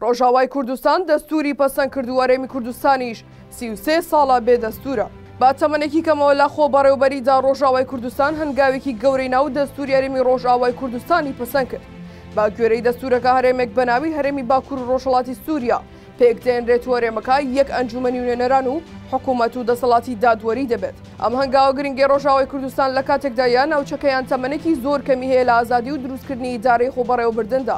ڕۆژاوای کوردستان دەستوری پەسەند کردو هەرێمی کوردستانیش سی و سێ ساڵە بێ دەستورە. با تەمەنێکی کەمەوە لە خۆبەڕێوبەریدا ڕۆژاوای کوردستان هەنگاوێکی گەورەی ناو دەستوری هەرێمی ڕۆژئاوای کوردستانی پەسەند کرد. بە گوێرەی دەستورەکە هەرێمێک بە ناوی هەرێمی باکور و ڕۆژهەڵاتی سوریا پێک دێنرێت و هەرێمەکە یەک ئەنجومەنی نوێنەران و حکومەت و دەسەڵاتی دادوەری دەبێت. ئەم هەنگاوە گرنگەی ڕۆژاوای کوردستان لە کاتێکدایە ناوچەکەیان تەمەنێکی زۆر کەمی هەیە لە ئازادی و دروستکردنی ئیدارەی خۆبەڕێوەبردندا.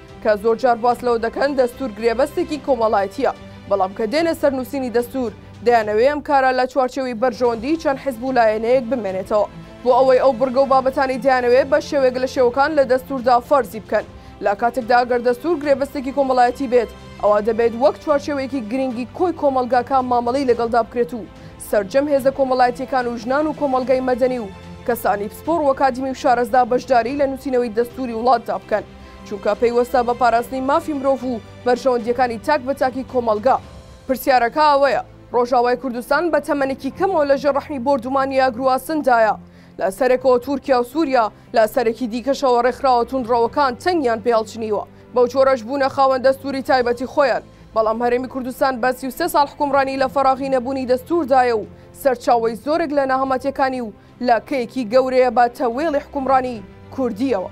کە زۆر جار باس لەوە دەکەن دەستوور گرێبەستێکی کۆمەڵایەتییە، بەڵام کە دێنە سەر نووسینی دەستوور، دەیانەوێ ئەم کارە لە چوارچێوەی بەرژەوەندیی چەند حزب و لایەنەیەک بمێنێتەوە، بۆ ئەوەی ئەو بڕگە و بابەتانەی دەیانەوێ بە شێوەیەک لە شێوەکان لە دەستووردا فەرزی بکەن. لە کاتێکدا گەر دەستوور گرێبەستێکی کۆمەڵایەتی بێت، ئەوا دەبێت وەک چوارچێوەیەکی گرینگی کۆی کۆمەڵگاکە مامەڵەی لەگەڵدا بکرێت و سەرجەم هێزە کۆمەڵایەتییەکان و ژنان و کۆمەڵگای مەدەنی و کەسانی پسپۆڕ وەکادیمی و شارەزا بەشداریی لە نووسینەوەی دەستووری وڵاتدا بکەن. چونکە پەیوەستە بە پاراستنی مافی مرۆڤ و بەرژەوەندییەکانی تاک بە تاکی کۆمەڵگا. پرسیارەکە ئەوەیە، ڕۆژاوای کوردستان بە تەمەنێکی کەمەوە لە ژێر ڕەحمی بۆردومانی ئاگرواسندایە، لە سەرێکەوە تورکیا و سوریا، لە سەرێکی دیکەشەوە ڕێکخراوە توندڕەوەکان چنگیان پێ هەڵچنیوە، بەو جۆرەش بوونە خاوەن دەستوری تایبەتی خۆیان، بەڵام هەرێمی کوردستان بە سی و سێ ساڵ حکومڕانی لە فەراغی نەبوونی دەستوردایە و سەرچاوەی زۆرێک لە ناهەمەتیەکانی و لە کەیەکی گەورەیە بە تەوێڵی حکومڕانی کوردییەوە.